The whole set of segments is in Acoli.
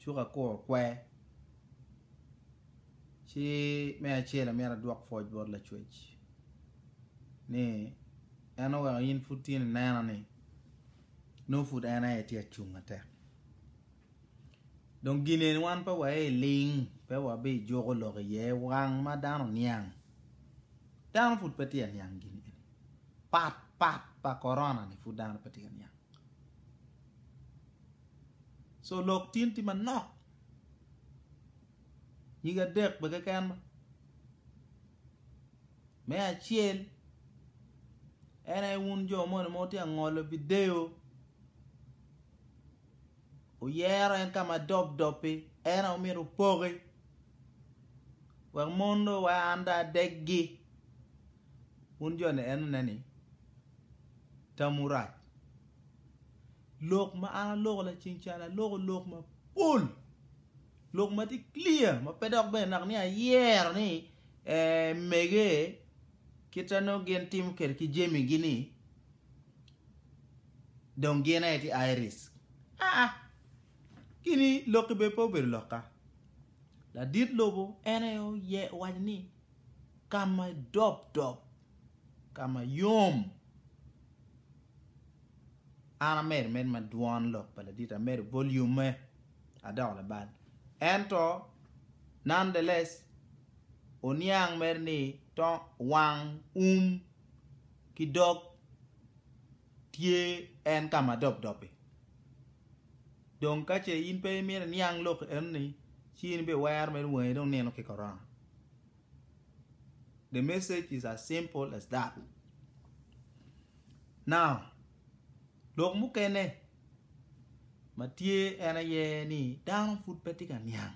Cukakur kwe. Ci me acel amyero adwok pwoc bot Lacwec ni en oweko in pud tye nineno ni nongo pud en aye tye acung matek. Dong gin eni wan pe waye i ling, pe wabijuko lok iye wang ma dano oniang. Dano pud pe tye ka niang gin eni. Pat pat pa Corona-ni pud dano pe tye ka niang. so lok tin tye manok nyige adek bene keken ma me acel en aye wun jo moni ma wutye ka ngolo video wuyero en ka ma dob dob-bi en aye wumito wupoki wek mon dong wa an dong adegi wun jo-ni enoni tamwu rac Lok ma an aloko lacen calo aloko lok mapol, lok ma tye clear ma pe dok bene nak ni ayero ni emege kit ma nongo gin timo kwede ki jamigi ni dong gin aye tye high risk aa kini lokki bene pe obedo lokka. Ladit lobo en aye owaco ni kama i dop dop ka ma yom. An amedo med ma dwon lok pa laditi, amedo volume-me, adoko labal. Ento, nonetheless, oniang mere ni to wang, um, ki dog tye en ka ma dobdob-bi. Dong ka ce in pe imito iniang lok eno-ni, ci in bene iwero mere wangi dong nino ki korona. The message is as simple as that. Now, lok mukene ma tye en aye ni dano pud pe tye ka niang.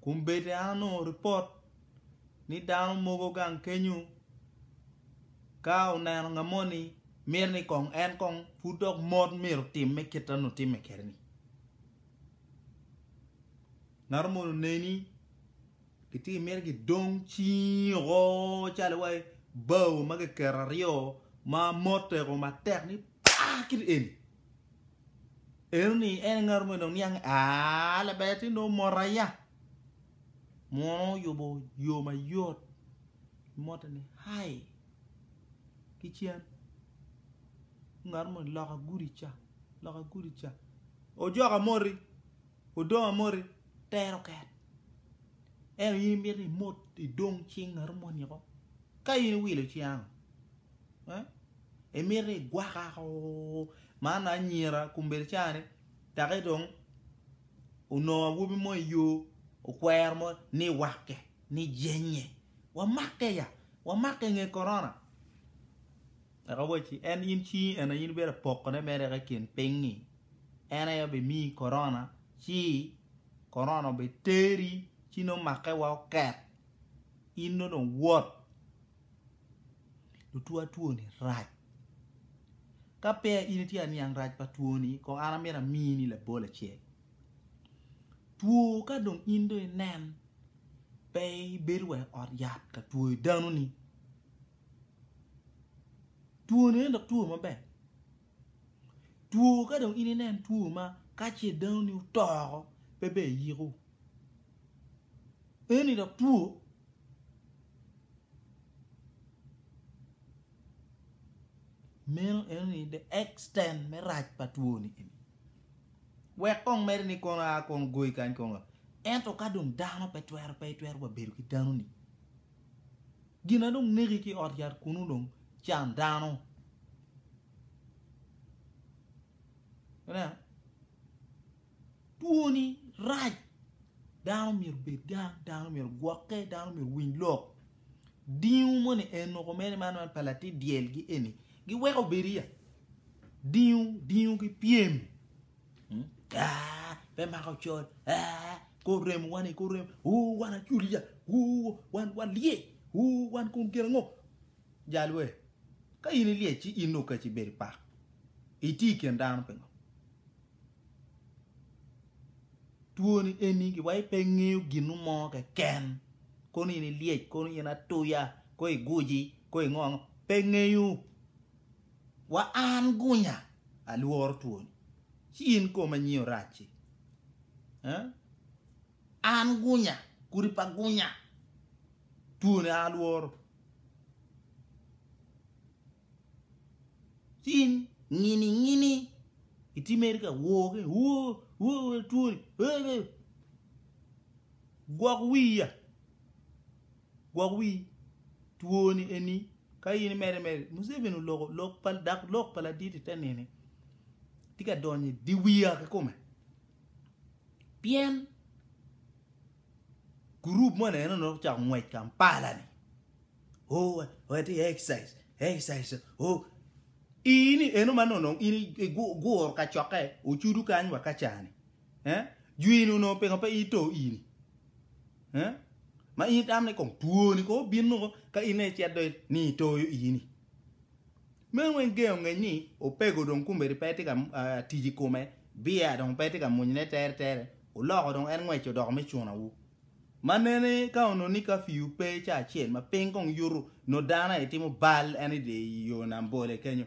Kun bedi an anongo ripot ni dano mogo gang kenyo ka oneno ngat moni miti ni kong en kong pud dok mot myero otim me kit ma nongo timme kwede-ni. Ngato moni oneni Gitye miti gidong cing oko calo wai bao ma kiketo aryo ma moteko matek ni paa kit eni. Eno ni en ngato ma dong niang aa laber ti dong mota ya. Muno oyubo yo mayot mote ni hai ki cen ngato moni loka gudi ca loka gudi ca ojoka moti Odong amoti tero ket. Ento in imito imot idong cing ngato moni oko? Ka in iwilo ci ango? Imito igwaka ko man anyira kombeddi cani taki dong onongo awobi mo iyo okwero mo ni wake ni jenye wamake ya wamake nge korona. Eka owacci, En in cingi en aye in ibino pokone mere eka i kin piny-ngi, en aye bimiyi korona, ci korona obiteri, ci nongo make wa oket, in nongo dong wot. Lutwo atwoni rac. Ka peya in itye ka niang rac pa twoni, kong an amito amini labol acel. Two ka dong in dong inen, pe ibedo wa i ot yat ka twoyo dano-ni. Two ni en dok two maber, two ka dong in inen two ma ka ce dano ni oto oko pe ber iyiko, eni dok two meno eno ni the extend me rac pa two ni eni wek kong mere ni kono a kong goyi kany kong ento ka dong dano pe twero pe itwero wa bedo ki dano ni Gina dong neki ki ot yat kunu dong can dano. Ineno? Twoni rac. Dano myero bed gang, dano myero gwokke, dano myero winy lok. Dingo moni eno kumene man man pa latin dyelgi eni giweko bedi ya. Dingo, dingo ki pyem Ah, pe mako col. Ah, kor rem wani, kor rem. Uh, wan aculiya. Uh, wan wan lye. Uh, wan kun gin ngo. Jalwe. Ka in ilye ci in nuk kaci bedi pak. Iti ken dano pingo. Tuoni eni ki wai pe ngeyo ginu mo ke ken. Kono in ilye, kono in atuya, ko iguji, ko ingo ango. Pe ngeyo. Wa an gunya, alworo twoni, ci in koma nyio rac-ci. An gunya, kudi pa gunya, twoni alworo, ci in ngini ngini itimeri ka woo ki woo woo twoni, gwok wiya. Gwok wi twoni eni ka in imede mede. Museveni oloko lok pa dak lok pa ladit ite nini tye ka donyo i diwiya kikome pien gurup mo neno dok ocako ngwec Kampala ni oh watye exercise exercise oh ini eno ma nono in iguro kacokke ocudu kany wa kaca ni Eh? Jwini onongo pingo pe ito ini? Eh? Ma in itamne kong twoni ko bin nongo ka ine icet do ni itoyo ini. Meno weng gengo ngeny ni opego dong kumbedi pe tye ka uh, tic i kome, biya dong pe tye ka munyne tere tere, oloko dong en ngweco doko me cunawu. Ma nene ka ono ni ka fiu pe ca acel ma piny kong yutu no dano aye timo bal en ide i yo nam bole kenyo.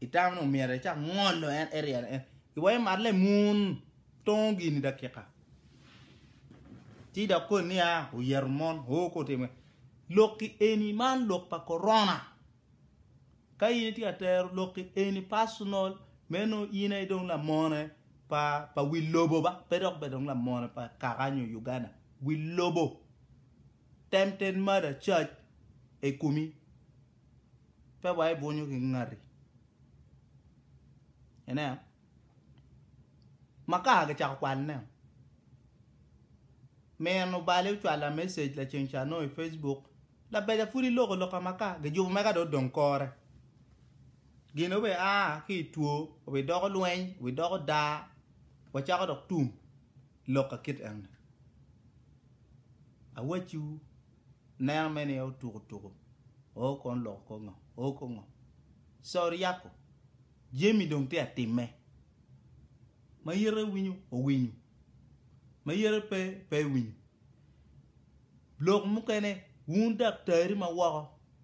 Itamo ni omyero ecak ngolo en eryel en iwa imat lemun tongo gini dakika ci dok koni niya oyeto mon o ko timo lokki eni man lok pa korona ka in itye ka tero lokki eni personal meno in aye dong lamone pa pa wi lobo ba pe dok bed dong lamone pa kaka nyo Uganda wi lobo tempted murder charge ekumi Pe wa ebwonyo ki ngati. Ene makar gicako kwalone. Min obale ocwala message laceng ca no i Facebook. Labeja pud iloko loka makar. Gijubo meka do odong kore. Gin obe a ki i two, obe doko lweny, obe doko daa. Wacako dok tum loka kit eni. Awacciwu Neno me ni otuku tuku o kon loko ko ngo o ko ngo so ryako jemi dong tye atime ma yite winyo owinyo ma yite pe pe winyo lok mukene wun daktari ma woko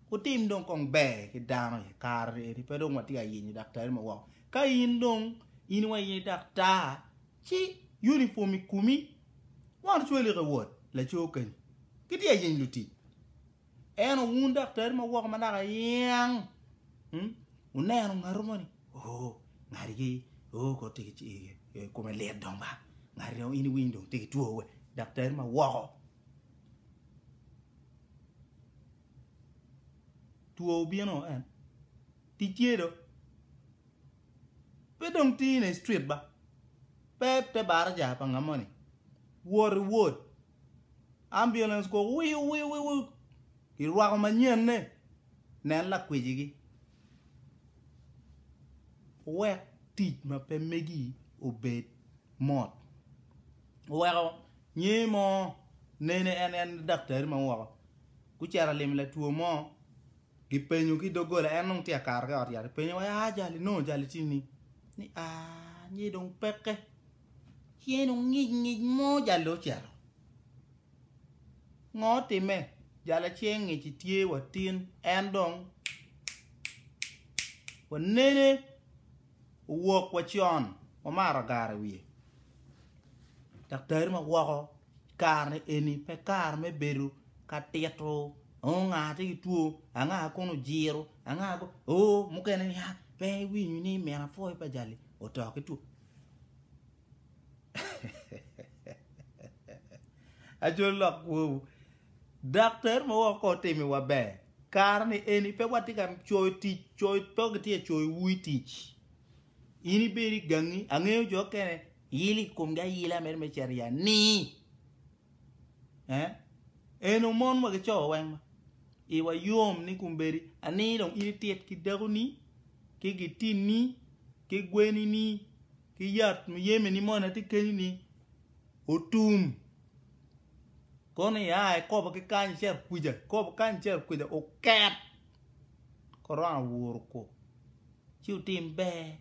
kutim dong kong ber ki dano i kare eni pe dong watye ayenyo daktari ma woko ka in dong in wa yenyo daktar ci uniform ikumi Won ocwelik i wod laco kenyo, gitye ka yeny lutic. En owun daktari ma woko manaka yeng, hmm? wuneno ngatu moni, oh, ngatigi, oh, kot tye ki eh, kome lit dong ba, ngati dong in iwiny dong tye ki two we, daktari ma woko. Two obino en, tic tye do. Pe dong tini i street ba. Pe te baraja pa nga moni. Wot i ward. Ambulance kok wiu wiu wiu wiu. I rwako manyen ne. Nen la kwiji gi. Wek tic ma pe megi obed mot. Weko nyi mo nene en en daktari ma woko. Kucera lim la tuo mo. Gipenyo ki doggola, en nongo tye ka kato ki ot yat. Gipenyo wa, aa jali nongo jali tye ni? Ni aa, nye dong peke. Ceng dong ngic ngic mo jali ocito. Ngo time? Jala ceng ngic tye watin en dong wanene Owok wa con wamaro gara wiye. Daktari ma woko kare eni pe kare me bedo ka tito oh nga tye ki two anga kun ojiro anga kun oh mukene ni ah pe iwinyo ni min apwoyo pa jali oto ki two Ajol lok kwowu Dok ter ma woko kor timi wa ber. Kare ni eni pe watye ka coyo tic, coyo pe gitye ka coyo wi tic. In ibedi i gangi, angeyo jo kene ilo i komgi ayila mere me ceri ya ni. Eh? Eno mon wa gico weng ma. Iwa yom ni kum bedi, ani dong in itit ki dako ni, ki gitin ni, ki gweni ni, ki yat muyeme ni moni ati kenyi ni, otum. Kono i aa ikobo ki kany icer kwica, ikobo kany icer kwica oket korona owuro kok ci otim ber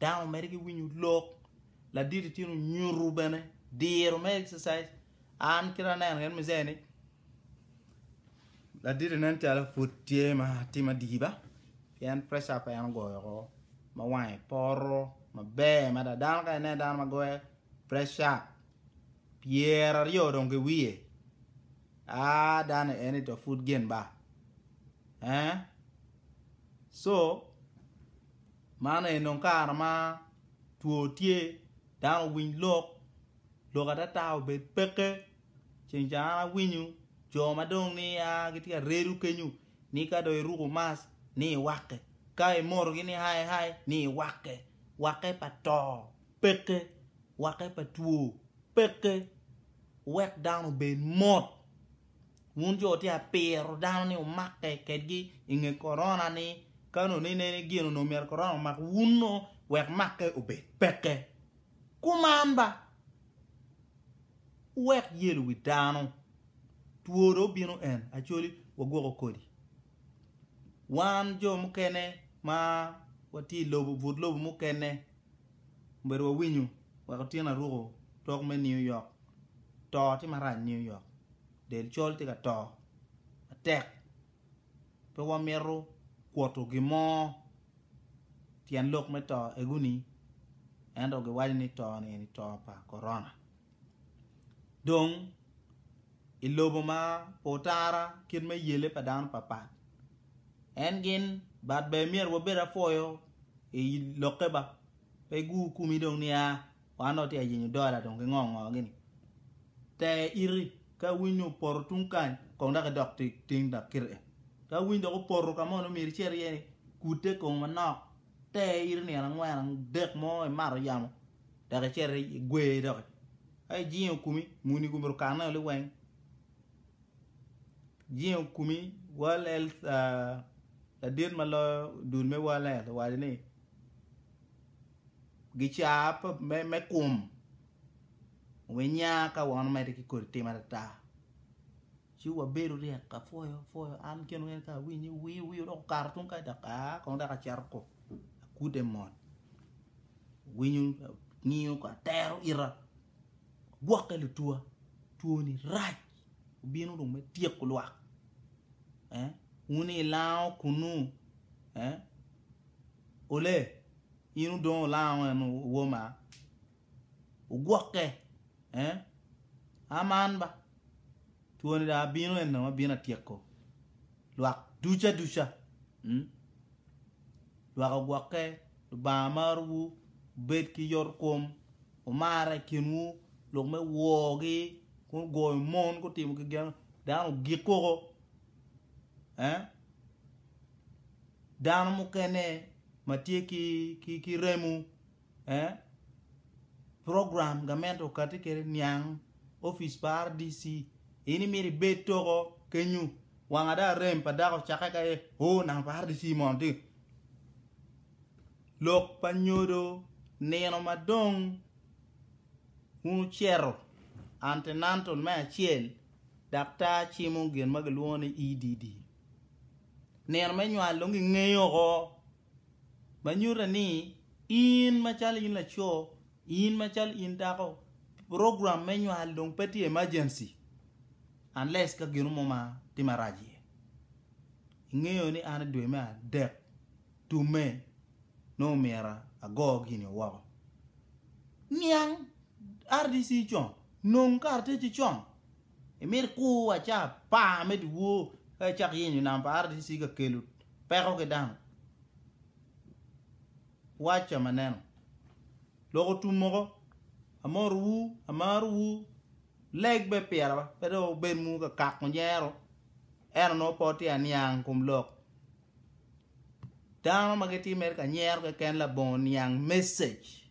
dano omede ki winyo lok ladit i cen onyuto bene diro me exercise an kit aneno kit ma iceni ladit nen calo pud tye ma timo adiba pien pressure pa en ogoyo woko ma wange poto maber mada dano ka ineno dano ma goyo pressure Pyera aryo dong ki wiye. Ah dano en ito pud gin ba. Eh? So, man en dong kare ma two tye, dano owiny lok, lok atata obed peke. Ceng ca an awinyo jo ma dong ni a gitye ka redo kenyo ni ka dong iruko mask ni iwakke, ka imoto gini hai hai ni iwakke. Wakke pa to peke. Wake pa two peke wek dano obed mot. Wun jo tye ka piro dano ni wumakke kedgi i nge korona ni kani onongo inen ni gin onongo myero korona omak wun nongo wek makke obed peke. Kuman ba! Wuwek yelo wi dano. Two dong obino en acoli wagwoko kodi. Wan jo mukene ma watye i lobo but lobo mukene Obedo wa winyo wek otyen aruko tok me New York to tye marac New York del col tye ka to matek pe wa mito kuto gin mo tyen lok me to egoni ento gi waco ni to ni eni to pa korona. Dong i lobo ma pe otara kit me yele pa dano papat en gin but ber myero wabed apwoyo i lokke ba pe gur kumi dong ni aa wan dong watye ka yenyo dola dong ki ngo ngo gini ter iti ka winy ni opoto tung kany kong dok idok tung kany ka winy dong opoto ka mo nongo myero icit iye ni kute kong manok te ito nino angwen dek mo imato yamo dok icito igwer doki ka ijingo kumi muni komito kane oli weng jingo kumi world health ladit ma loyo dul me world health owaco ni gica me kum winya ka wano mede ki kodi tim atata Ci wabedo ryek ka pwoyo pwoyo an kene wene ka awinye wii wii odoko kato tung kai dok aa kong dok aceto ko akude mot winyo ngiyo ko atero ita gwokke lutuwa twoni rac obino dong me tyeko lwak eh wuni ilango kunu eh ole in udong olango en woma Ogwokke, eh? A man ba. Twoni dong abino eno, abino atyeko lwak duca duca. Mm? Lwak ogwokke, Lubanga marowu, obed ki yot kom, omara i kinwu, lok me wogi, kun goyo mon, gutimo ki gen, dano ogik koko. Eh? Dano mukene ma tye ki, ki, ki remo, program gamente okati kede niang opic pa RDC in imito ibed toko kenyu wanga dong arem pa dako cake ka aye ooh nanga pa RDC mono tye lok pa nyodo nino madong wun wucito antenatal me acel daktar cimo gin ma kilwongo ni EDD nino me nywal dong gingeyo woko. ma nyuta ni in macalo in laco, in macalo in dako, program me nywal dong pe tye emergency unless ka gino mo ma tye marac iye. Ingeyo ni an i dwe me adek tumme nongo myero ago gini woko. Niang RDC con, nong karataci con. Imito kur aca apar me dyewor ka icako yenyo nam pa RDC ka kelo peko ki dano? Waca ma neno. Lok otum moko. Amotowu, amarowu, leg be pira ba, pe dong wubed mu ka kako nyero. Eno nongo po tye aniang kum lok. Dano ma gitye mere ka nyero keken labongo niang message.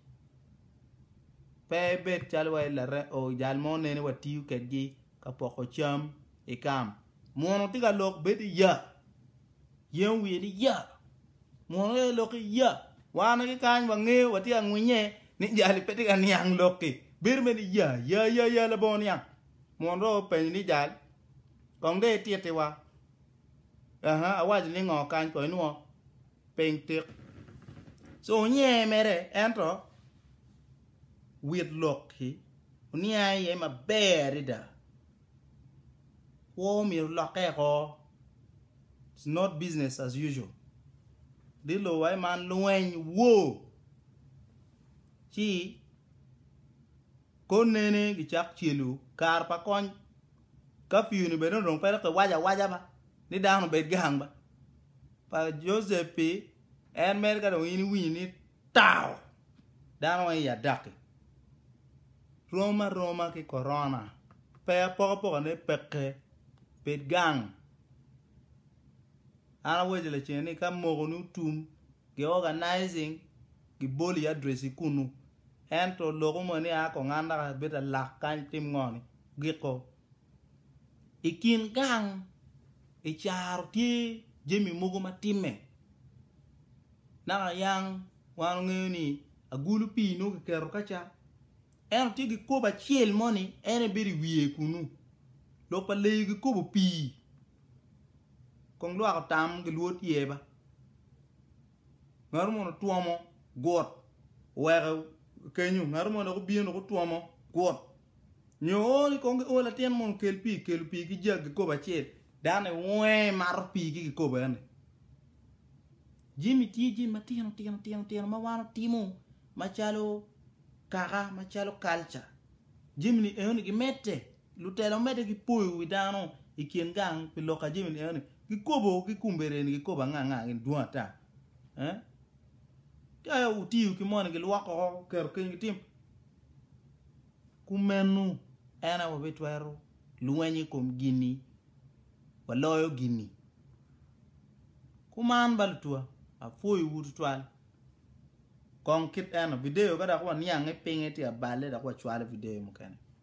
Pe ibed calo wa jal mo nene watiyo kedgi ka poko cam i kam. Muno tye ka lok bed i ya. Yen wiye ni ya. Muno tye ka lok i ya. Wan ki kany wangeyo watye ka ngwinye ni jali pe tye ka niang lokki. Bedo bene i ya ya ya ya labongo niang. Muno dong openyo ni jal kong dong ititiwa. Aha, awaco ni ngo kany kong inwo. piny tik. Co onyenge mere ento Whitlock-ki oniang iye maber adada. Kwo myero olokke oko. It's not business as usual. Di luwae man lweny, war, ci Konene gicak celu kare pa kony kafiu ni bene onongo pe dok kiwaco awaca ba ni dano obed gang ba. Pa Joseph pi en mere ka dong in iwinyo ni tao dano weng iya daki. Rom aroma ki korona pe apokapokane peke bed gang. An awaco lacen ni ka moko ni otum gi organizing. Giboli i adresi kunnu. Ento lok omoni ni aa kong an dok abedo alak kany tim ngo ni? Giko. I kin gang i caro tye jami mogo ma timme. Naka yang wan ongeyo ni agulu pii nongo kiketo ka ca. Ento tye gikobo acel mo ni en aye bedo i wiye kunnu. Lok pa leyo gikobo pii. Kong lwak otam gilwot ye ba. Ngato mo dok twomo gut oweko kenyo, ngato mo dok obino dok otwomo gut. Nyo ool kong ki o latin mono kel pii, kelo pii ki jag kikopo acel. Dano i wonge mato pii ki kikopo eni. Jami tye jami matino tino tino tino ma wan otimo macalo kaka macalo kalca. Jami ni eno ni gimedde. Lutela omedde ki poyo wi dano i kin gang pi lok a jami ni eno-ni. Gikobo ki kumbere ni gikobo anga anga gin dwong ata. Eh? Ka wutiyo ki moni gilwoko oko keto keny gitim. Kumenu en aye wabitwero lweny i kom gini waloyo gini. Kuman ba lutwa apwoyowu tutwal. Kong kit eno video ka dok waniange pinge tye abale dok wacwalo video mukene.